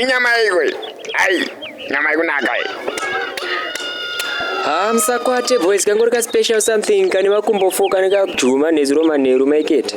inyama yaiko iyi ai nyama ikunaka iyi haa musakwate boys kangori ka special something kane makumbo fo kane kajuma nezuro manheru maikete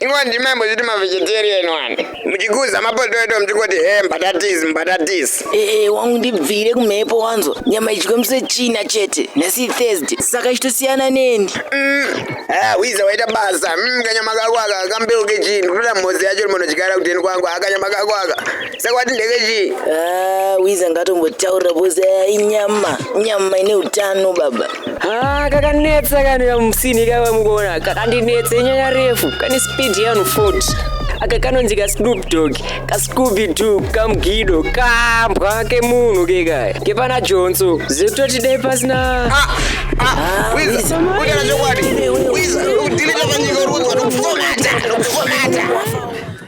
Ivo ndimi maimbozviti mavegetarian wani muchikuza mapotoito muchingoti he mbatatisi mbatatisi ee wangu ndibvire kumhepo wanzwa nyama idyiwe muse china chete nhasi thursday saka ichitosiyana neni Ah, wiza waita basa mm, kanyama kako aka kambeu kechinhu kutoda mhodzi yacho rimonodyara kuteni kwangu ah, kanyama kako aka saka wati ndege chii Ah, wiza ngatombotaura bozi aya inyama nyama ine utano baba Ah, kakanetsa kani kamusini kava mukuona kakandinetsa inyaya refu kane speed yanu 40 aka kanonzi kasnoop dog kascooby doo kamgido kambwa kemunhu kekaya kepana jonso zekutoti dai pasina Ah, wiza Wiza. kutaura chokwadi wiza udhilita panyika rudzwa nokufomata nokufomata